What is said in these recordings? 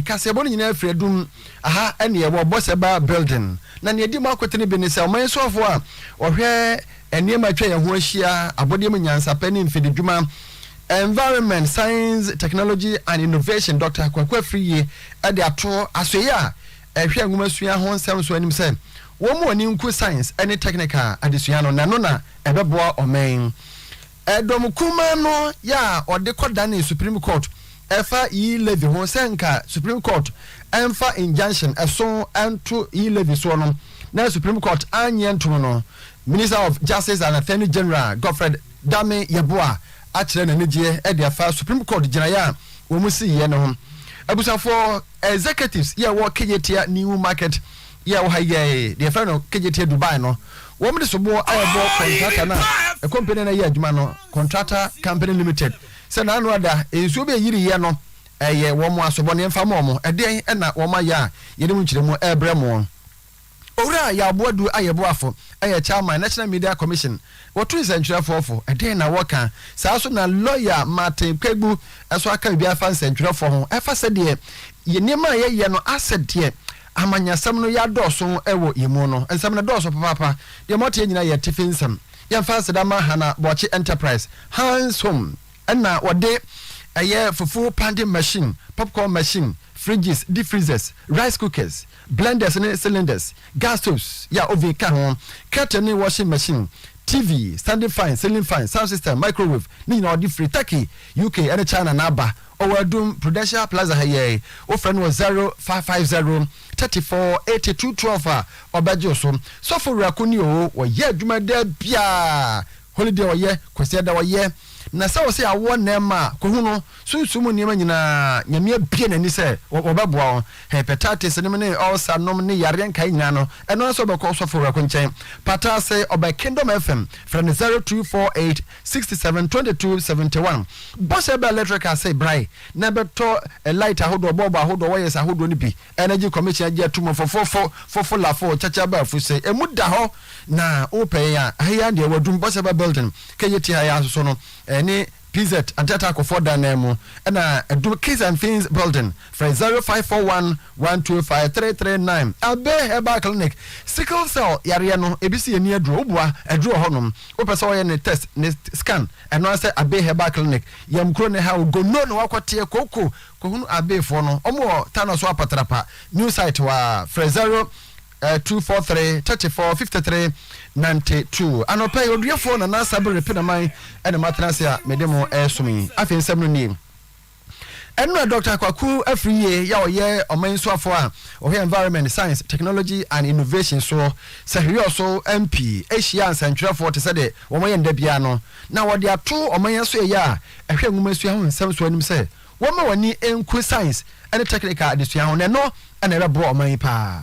Kaseɛbɔ no nyinaa firi adum aha ne ɛwɔ Boseba Building, na nea edi mu akote no bi ne sɛ ɔman soafoɔ a ɔhwɛ nneɛma a atwa yɛn ho ahyia, abɔdeɛ mu nyansapɛ ne mfididwuma, Environment, Science, Technology and Innovation, Dɔkta Kwaku Afriyie de ato asoɛeɛ a ɛhwɛ nwomasua ho nsɛm so anim sɛ wɔmmu ani nku science ne technical adesua no na ɛno na ɛbɛboa ɔman Ɛdɔm kumaa no yɛ a ɔde kɔdanee Supreme Court ɛfa E. Levy ho sɛ nka Supreme Court ɛmfa injunction ɛso ɛnto E. Levy soɔ no na Supreme Court annye antom no, Minister of Justice and Attorney General Godfred Dame Yeboah akyerɛ n'anigyeɛ de afa Supreme Court gyinaeɛ a wɔn siiɛ no ho. Abusuafoɔ, Executives, yɛ ɛwɔ Kejetia New Market yɛɛ wɔ ha yɛɛ deɛ fɛ no kegyeteɛ Dubai no wɔn de soboɔ a ɛbɔ kɔntrata no a kɔmpani no yɛ adwuma no kɔntrata company limited sɛ naano ada nsuo bi ɛyiri yɛ no ɛyɛ wɔn asobɔ ne ɛmfa mɔ mo ɛdeɛn ɛna wɔn ayɛ a yɛde mu nkyerɛmu ɛbrɛ mo. Owura Yaboadu Ayɛboafo ɛyɛ Chairman National Media Commission wɔto nsɛntwerɛfoɔ fo ɛdeɛn na wɔka saa so na Lawyer Martin Kpebu ɛso aka biribi afa nsɛntwerɛfoɔ ho ɛfa sɛdeɛ yɛ nneɛma a yɛyɛ no asɛ deɛ Ahamanyɛsɛm no ya dɔɔso wɔ yɛn mu no. Nsɛm no dɔɔso papaapa. Deɛ mote yɛ nyinaa yɛ atifi nsɛm. Yɛmfa aseda mma Hannah Boakye Enterprise, Hann's Home, ɛna wɔde ɛyɛ fufuo pounding machine, popcorn machine, fridges, deep freezers, rice cookers, blenders ne cylinders, gas stoves, yɛ a oven ka ho, kettle ne washing machine, TV, standing fan, ceiling fan, sound system, microwave, ne nyinaa wɔde firi Turkey, UK ne China na aba. Ɔwɔ Adum, Prudential Plaza ha yɛe. Wofrɛ no wɔ zero five five zero thirty four eighty two twelve a, ɔbɛgye wo so. Sɔfo Wura ko ni oo, wɔyɛ adwuma da biaa, holiday wɔyɛ, Kwasiada wɔyɛ. Na sɛ wose awo nnɛɛma a, kohu no, sunsum mu nneɛma nyinaa, Nyame abue n'ani sɛ wɔbɛboa wo. Hepatitis nom ne ulcer nom ne yareɛ nkaeɛ nyinaa no, ɛno ara sɛ wobɛkɔ Sɔfo Wura ko nkyɛn. Pataase, ɔbɛkendom FM, frɛ no zero two four eight Sixty seven twenty two seventy one bɔhyɛ bɛɛ electrical sɛ brae na ɛbɛtɔ light ahodoɔ bɔɔbo ahodoɔ wires ahodoɔ no bi energy commission agye ato mu fofofo fofo lafo kyakya baafu sɛ ɛmu da hɔ na wopɛ yɛn a ha yi ara deɛ wadum bɔhyɛ bɛɛ building kɛ yɛti ha yi ara soso no ɛne pz anteatakɔfoɔ dan nan mu ɛna adum kids and things building Frɛ 0541 125 339 Abbey Herbal Clinic, Sickle cell yareɛ no ebi si ani aduro, woboa aduro wɔ hɔ nom, wopɛ sɛ wɔyɛ ne test, ne scan, ɛno ara sɛ Abbey Herbal Clinic, yɛn kuro no ha, Ogono na wakɔ teɛ, kooko, kɔhunu Abbey foɔ no, wɔn wɔ Tano so Apatrapa, new site hɔ ara, frɛ 0243 34 53 92 Anɔpa yi, Oduyɛfoɔ Nana Sabiri Pinaman na matena ase a mede mo resom yi, afei nsɛm no nie. Ɛnora Dɔkta Kwaku Afriyie yɛ a ɔyɛ ɔman nsuafoɔ a ɔhwɛ Environment, Science, Technology and Innovation soɔ sɛ Hwiɔ so MP hyiaa nsɛntwerɛfoɔ te sɛ de wɔn yɛ nda biara no na wɔde ato ɔman asoɛeɛ a ɛhwɛ nwomasua ho nsɛm soɔ anim sɛ wɔmma wɔn ani nku science ne technical adesua ho na ɛno na ɛbɛboa ɔman yi paa.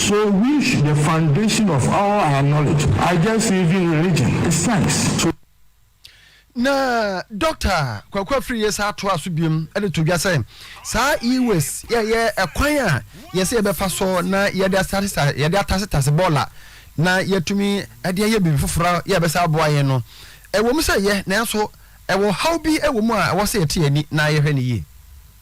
So which the foundation of all our knowledge I guess even religion is science so. Na Doctor Kwaku Afiriye saa toa so biom de to dwa sɛ saa e-waste yɛ yɛ ɛkwan a yɛsɛ yɛbɛfa so na yɛde asatesa yɛde atasetase bɔɔla na yɛatumi de ayɛ biribi foforɔ yɛ ɛbɛsa aboa yɛn no ɛwɔ mu sɛ yɛ nanso ɛwɔ haw bi ɛwɔ mu a ɛwɔ sɛ yɛte yɛn ani na yɛhwɛ no yie.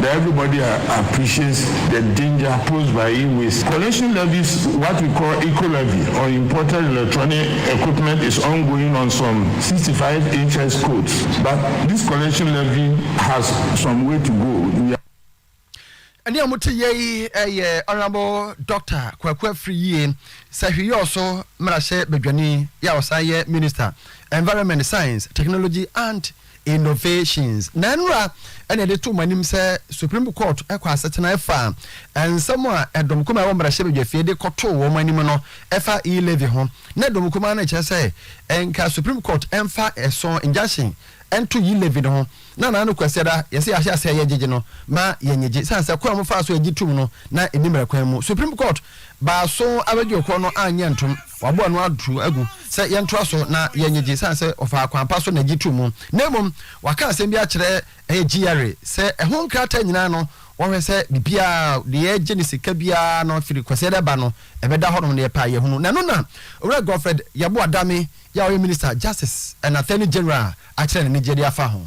That everybody appreciates the danger posed by e-waste collection levies, what we call eco-levy on imported electronic equipment is ongoing on some sixty five HS codes but this collection levy has some way to go, we are. Ɛne a mote yɛ yi yɛ Honourable Doctor Kwaku Afriyie Sahwiyɔɔso mmarahyɛ badwani yɛ a ɔsan yɛ Minister Environment, Science, Technology and. Innovations. Ná nnora na yɛde to wɔn anim sɛ Supreme Court kɔ asetena ɛfa nsɛm a ɛdɔm kumaa ɛwɔ mmarahyɛbadwafie de kɔtoo wɔn anim no ɛfa e-levy ho. Ná ɛdɔm kumaa no rekyerɛ sɛ nka Supreme Court mfa ɛso, injunction, nto e-levy no ho. Ná Nana no Kwasiada yɛse yɛahyɛ aseɛ a yɛgyegye no ma yɛnyegye esiane sɛ kwan a wɔfaa so gye toom no na ɛnni mmara kwan mu. Supreme Court baa so abɛgye ɔkorɔ no anyɛ ntom. Wɔaboa no ato agu sɛ yɛntoa so na yɛnyegye esiane sɛ ɔfaa kwan pa so na egye too mu, na mmom wɔaka asɛm bi akyerɛ ɛyɛ GRA sɛ ɛho nkrataa nyinaa no wɔhwɛ sɛ biribiara a deɛ yɛgye no sika biara no firi Kwasiada reba no ɛbɛda hɔnom na yɛpɛ a yɛahunu. Na ɛno na Owura Godfred Yeboah Dame yɛ a ɔyɛ Minister Justice and Attorney General akyerɛ n'anigyeɛ de afa ho.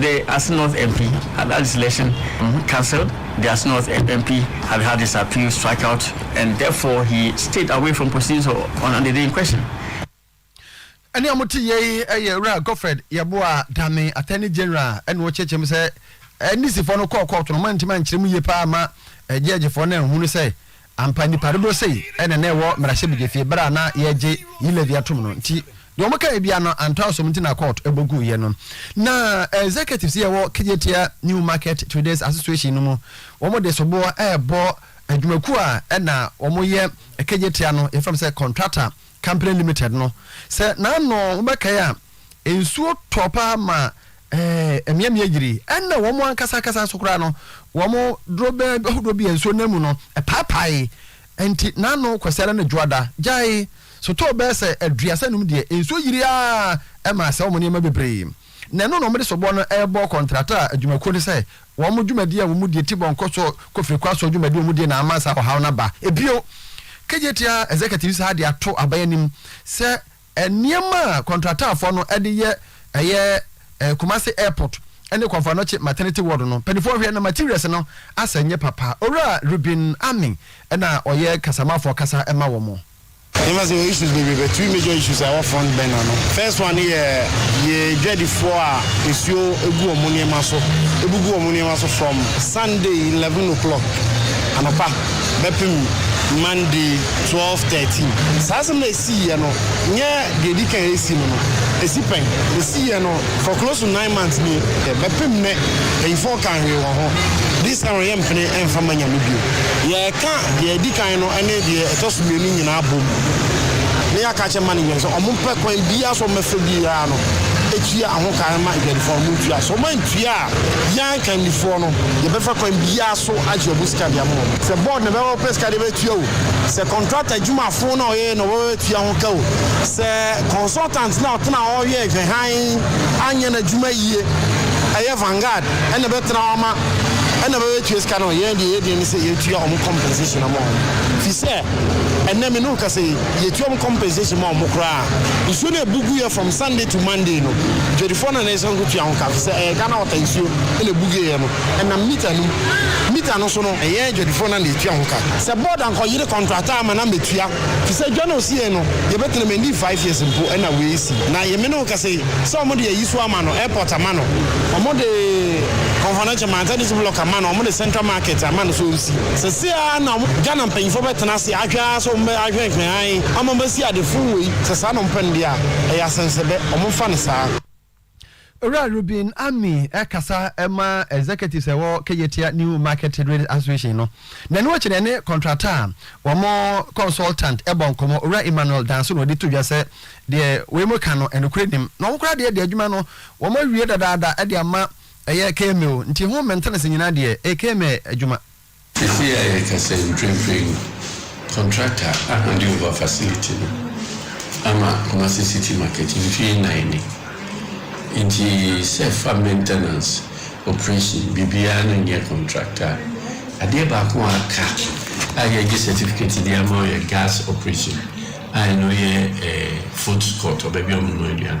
The Asnorth MP had had his election cancelled, The Asnorth MP had had his appeal struck out and therefore he stayed away from proceedings on on the day in question. Ɛne a mote yei yɛ Wura Godfred Yeboah Dame, Attorney General, ɛna ɔkyerɛkyerɛ mu sɛ NDCfoɔ no kɔɔ kɔɔto no, wɔantumi ankyerɛ mu yie paa ma gyɛɛgyefoɔ no anhunu sɛ Ampa nnipa dodoɔ sei na na ɛwɔ mmarahyɛbedwafie berɛ a na yɛregye Yilevy atom no nti deɛ wɔn kaeɛ biara no antɔ asom nti na court bɔ guiɛ no na executives yɛ wɔ Kejetia New Market Traders Association no mu wɔn de soboɔ ɛrebɔ adwumakuo a ɛna wɔn yɛ Kejetia no yɛfrɛ no sɛ contractor company limited no sɛ n'ano wɔbɛkae a nsuo tɔ paa ma Ɛɛ, mmeammea yiri, ɛnna wɔn ankasa ankasa nso koraa no, wɔn dorobɛ ahodoɔ bi a nsuo nam mu no, ɛpaapaee. Enti n'ano kwasea no ne dwoada gyaee. Sotɔɔ bɛyɛ sɛ aduasa nnum deɛ, nsuo yirii ara a ɛma asɛe wɔn nneɛma bebree. Na ɛno na wɔde soboɔ no rebɔ kɔntrata adwumakuo no sɛ wɔn dwumadi a wɔdie ti bɔ nkɔ so kɔ firi kɔ asoɔ dwumadi a wɔdie na ama saa ɔhaw no aba. Bio, KJTA executives ha de ato aban anim sɛ, Nneɛma a kɔntrataafoɔ no de yɛ ɛyɛ Kumasi Airport ne Komfo Anokye Maternity Ward no mpaninfoɔ hwɛ na materials no asɛ nyɛ papa. Owura Reuben Anning na ɔyɛ kasamafoɔ kasa ma wɔn. Yɛma sɛ wɔ issues bebree but three major issues a ɛwɔ front burner no first one ne yɛ yɛ dwadifoɔ a nsuo gu wɔn nneɛma so bugu wɔn nneɛma so from Sunday eleven o'clock anɔpa bɛpem Monday twelve thirteen saa asɛm no a siiɛ no nyɛ deɛ ɛdi kan ɛsi no no ɛsi pɛn ɛsiiɛ no for close to nine months nie ɛ bɛpem nnɛ ɛyifoɔ kan hwee wɔ ho this time yɛ mpene ɛmfa ma nyame bio yɛ ka deɛ ɛdi kan no ɛne deɛ ɛtɔ so mmienu nyinaa bom na yɛ aka kyɛ management sɛ ɔmo pɛ kwan biaa sɛ ɔmo bɛfa biaa no ɛtua ɛho ka ɛma adwadifoɔ ɔmo ntua sɛ ɔmo antua a yan kandifoɔ no yɛ bɛfa kwan biaa so agye ɔmo sika de ama ɔmo sɛ board na ɛbɛma ɔpɛ sika de bɛtua o sɛ contractor dwumafo na ɔyɛ na ɔbɛba abɛtua ho ka o, sɛ consultant na ɔtena hɔ hwɛ nhwɛ hann anyɛ n'adwuma yie, ɛyɛ Vanguard na ɛbɛtena hɔ ama na ɛba abɛtua sika no a, yɛn deɛ yɛn adwene ne sɛ yɛtua wɔn compensation ama wɔn. Ɛfiri sɛ, ɛnnɛ me ne wo rekasa yi, yɛtua wɔn compensation ma wɔn koraa a, nsuo no a ɛbu guiɛ from Sunday to Monday no, dwadifoɔ no na ɛsɛ sɛ wɔkɔtua ho ka, ɛfiri sɛ ɛyɛ Ghana Water nsuo na ɛbu guiɛ no, ɛnam meter no mu. Meter no so no, ɛyɛn adwadifoɔ no na yɛtua ho ka. Sɛ board ankɔyere. Contract a ama na metua fi sɛ dwa na osi yɛn no yɛ bɛ tena mu ɛnni five years mpo ɛna wei si na yɛ me ne wo kasa yi sɛ ɔmo de ayi so ama no airport ama no ɔmo de Konfanache Manta District Block ama no ɔmo de Central Market ama no so nsi sɛsei ara na ɔmo dwa na mpanyinfoɔ bɛ tena ase ahwɛ ara sɛ ɔmo bɛ ahwɛ hwɛ hann ama ɔmo bɛ si ade fon wei sɛ saa na ɔmo pɛ no deɛ a ɛyɛ asɛnsɛbɛ ɔmo nfa no saa. Owura Rubin Ami ɛkasa ɛma executives ɛwɔ Keyetia New Market Real Association no. Nɛno akyi no ɛne contractor a wɔn consultant ɛbɔ nkɔmɔ. Owura Emmanuel Danso na ɔde to dwa sɛ deɛ wei mo ka no ɛnokorɛ nim. Na wɔn koraa deɛ deɛ adwuma no wɔn awie dadaada ɛde ama ɛyɛ KMA o. Nti ho maintenance nyinaa deɛ ɛyɛ KMA adwuma. Sesei a yɛrekasa yi, mprempren no, kɔntrakta a ɔde Ova Facility no ama Kumasi City Market mfe nnan ni. Enti sɛ ɛfa maintenance, operation, biribiara no nyɛ kɔntrakta a, adeɛ baako a aka a yɛagye certificate de ama yɛ gas operation a ɛno yɛ food court, baabi a wɔnoa aduane.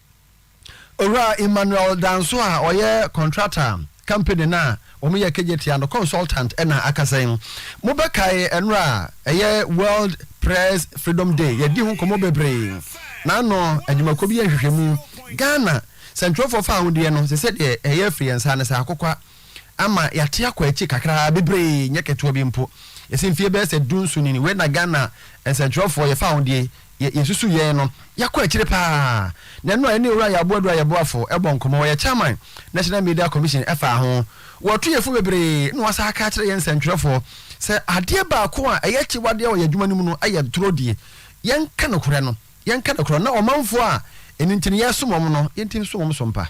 Owura Emmanuel Danso a ɔyɛ contractor company no a wɔyɛ Kegyetia no consultant na akasa yi. Mobɛkae ɛnora a ɛyɛ World Press Freedom Day, yɛadi ho nkɔmmɔ bebree. N'ano adwumakuo bi yɛ nhwehwɛmu. Ghana sɛnkyerɛwfoɔ fawodeɛ no, te sɛ deɛ ɛyɛ firi yɛn nsa ano sɛ akokwa ama yɛate akɔ akyiri kakraa, bebree, nyɛ ketewa bi mpo. Yɛsi mfeɛ bɛyɛ sɛ du nso ni, wei na Ghana nsɛntwerɛfoɔ yɛfa ho deɛ yɛ, yɛsusu yɛn no, yɛakɔ akyiri pa ara. Na ɛno a yɛne Owura Yaw Boadu a yɛboafo bɔ nkɔmmɔ, ɔyɛ Chairman National Media Commission ɛfaa ho. Wɔto yɛn fo bebree na wɔasan aka akyerɛ yɛn nsɛntwerɛfoɔ sɛ adeɛ baako a ɛyɛ akyiwadeɛ wɔ yɛn adwuma no mu no yɛ twerɛdie. Yɛnka nokorɛ no, yɛnka nokorɛ no, na ɔmanfoɔ a ɛno nti no yɛresom wɔn no, yɛntumi nso wɔn so mpa.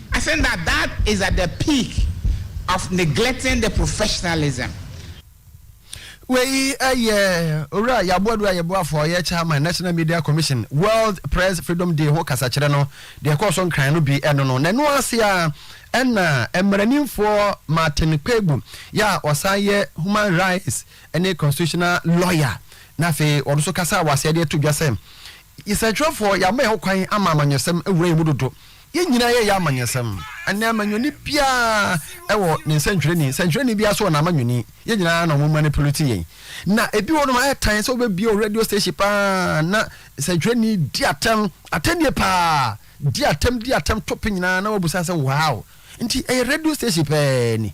I think that that is at the peak of neglecting the professionalism. Wei yɛ Owura Yaboa Dua Yeboafoɔ a ɔyɛ Chairman National Media Commission World Press Freedom Day ho kasakyerɛ no. Deɛ ɛkɔɔ so Nkran no bi no no, n'ano ase ara na mmaranimfoɔ Martin Kpebu yi a ɔsan yɛ Human Rights ne Constitutional Lawyer na afei ɔno nso kasaa wɔ aseɛ de ato dwa sɛ, Nsɛntwerɛfoɔ, yɛama yɛn ho kwan ama amanyɔsɛm awura yɛn mu dodo. Yɛn nyinaa yɛyɛ amanyɛsɛm. Ɛnnɛ, amanyɔni biara wɔ ne nsɛntwerɛni. Nsɛntwerɛni biara nso wɔ n'amanyɔni. Yɛn nyinaa na wɔmanipulate yɛn. Na ebi wɔ nom ayɛ tan sɛ wobɛbie wo radio station paa na nsɛntwerɛni di atɛm, atɛm yie paa, di atɛm, di atɛm, tope nyinaa na wabusa sɛ wow. Nti ɛyɛ radio station pɛɛ ni.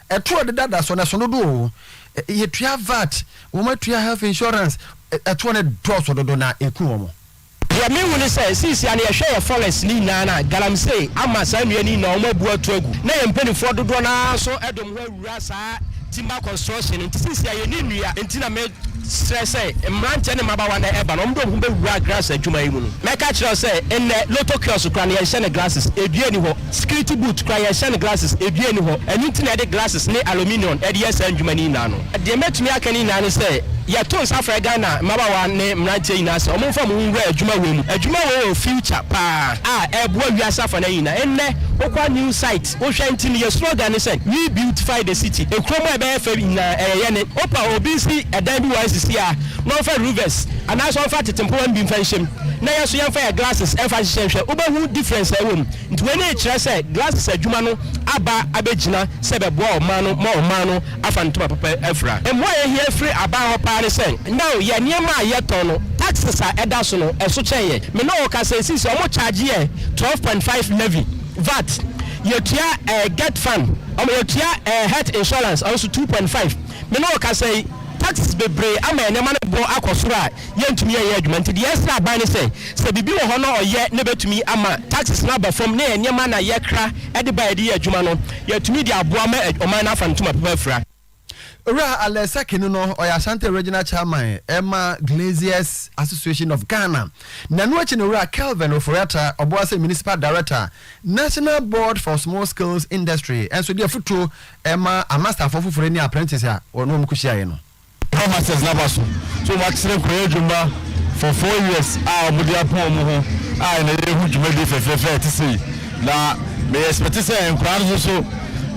Ɛto a ɛdeda da so no, ɛso dodo oo, yɛtua vat, wɔatua health insurance, ɛtoɔ no dɔɔso dodo na ɛku wɔn. Deɛ mehu ne sɛ, since yɛa no yɛhwɛ yɛn forests no nyinaa no a, galamsey ama saa nnua no nyinaa wɔn abu ato agu, na yɛn mpaninfoɔ dodoɔ no ara nso de wɔn ho awura saa timber construction no nti, since yɛa yɛnni nnua nti na me srɛ sɛ mmeranteɛ ne mmabaawa na ɛba no wɔn de wɔn ho bɛwura grass adwuma yi mu no, mɛka akyerɛ wo sɛ nnɛ lotto kiosk koraa no yɛnhyɛ no glasses, dua nni hɔ. Security boot koraa yɛnhyɛ no glasses ɛdua nni hɔ ɛno nti na yɛde glasses ne aluminium de yɛ saa ndwuma no nyinaa no. Deɛ mɛtumi aka no nyinaa ne sɛ yɛto nsa frɛ Ghana mmabaawa ne mmeranteɛ nyinaa sɛ wɔn mfa wɔn ho nwura adwuma wei mu. Adwuma wei wɔ future paa a ɛreboa wiase afa no nyinaa. Nnɛ wokɔ a new site wohwɛ nti no yɛn slogan ne sɛ we beautify the city ekuro mu a ɛbɛyɛ fɛ nyinaa ɛyɛ yɛn ne. Wopa obi nsi ɛdan bi wɔ ICC a na ɔmfa ruvɛs anaasɛ ɔmfa atetempowa no bi mfa nhyɛ mu. na yɛn nso yɛmfa yɛn glasses mfa nhyehyɛ nhwɛ, wobɛhu difference a ɛwɔ mu. Nti wei na ɛkyerɛ sɛ glasses adwuma no aba abɛgyina sɛ bɛboa ɔman no ma ɔman no afa ne ntoma papa afira. Mmoa a yɛhia firi aban hɔ paa ne sɛ, nnɛ o, yɛn nneɛma a yɛtɔn no, taxes a ɛda so no, ɛso kyɛn yɛn. Me ne wo rekasa yi, seesei wɔkyagye yɛn twelve point five levy, vat, yɛtua eh, get fund, wɔn, yɛtua eh, health insurance, ɛno nso two point five. Me ne wo rekasa yi, taxes bebree ama yɛn nneɛma no bo akɔ soro a yɛntumi yɛnyɛ adwuma nti deɛ ɛsrɛ aban ne sɛ, sɛ biribi wɔ hɔ na ɔyɛ na ɛbɛtumi ama taxes no aba fam ne nneɛma na yɛkra de ba a yɛde yɛ adwuma no, yɛatumi de aboa ma ɔman no afa ne ntoma papa afira. Owura Alain Sakenu no ɔyɛ Ashanti Regional Chairman ma Glaziers Association of Ghana. Na ɛno akyi no Owura Kelvin Ofori-Atta, Obuasi Municipal Director, National Board for Small Scales Industry nso de afutuo ma amasterfoɔ foforɔ ne apprentice a wɔn a wɔkɔhyiaeɛ no. Wɔ Masters n'aba so nso wɔakyerɛ kura adwuma for four years a wɔde apɔn wɔn ho a ɛna yɛrehu dwumadie fɛfɛɛfɛ a ɛte sei na me expect sɛ nkwadaa no nso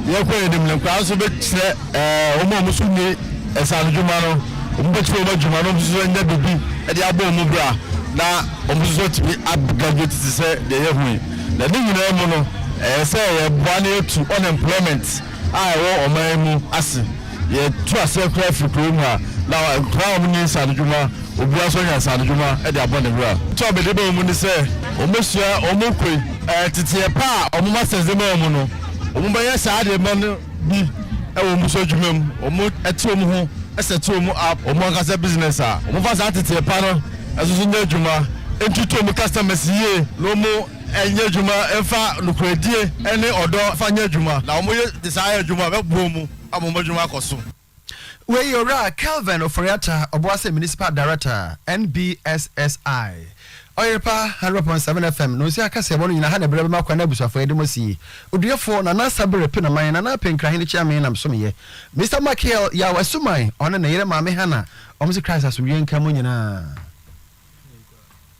yɛkɔ yɛn anim no nkwadaa nso bɛkyerɛ eh, wɔn a wɔn nso ni ɛsanodwuma no wɔn bɛkyerɛ wɔn adwuma no wɔn nso anya biribi de abɔ wɔn bra na wɔn nso atumi agraduate te sɛ deɛ yɛhu yi na ne nyinaa mu no ɛyɛ sɛ yɛboa na yɛtu unemployment a ɛwɔ ɔman yi mu ase. Yɛtu aseɛ koraa firi kuro mu a, na nkoraa a wɔnni nsaanodwuma, obiara nso anya nsaanodwuma de abɔ ne bra. Nti a wɔde ba wɔn mu ne sɛ wɔbɛsua wɔn koi. Teteɛ pa a wɔn masters de ma wɔn no, wɔbɛyɛ saa adeɛ mma no bi wɔ wɔn so adwuma mu. Wɔte wɔn ho sɛte wɔn up wɔn ankasa business a wɔfa saa teteɛ pa no nso so nyɛ adwuma, ntutu wɔn customers yie na wɔn. Ɛnyɛ adwuma mfa nokorɛdie ne ɔdɔ mfa nyɛ adwuma, na wɔyɛ de saa ayɛ adwuma a, mɛboa mu ama wɔn adwuma akɔ so. Wei yɛ Owura Kelvin Ofori-Atta, Obuasi Municipal Director, NBSSI. Ɔyerepa 100.7 FM, Nonsuo Akaseɛbɔ no nyina ha na ɛberɛ bɛma kwan na abusuafoɔ yɛde mo asie. Oduefoɔ, Nana Sabere Penaman, Nana Apeh Nkrahene Kyeame na mesomeyɛ Mister Makiel Yaw Asuman, ɔne ne yere Maame Hannah, wɔn se Christ asomdwoeɛ nka mo nyinaa.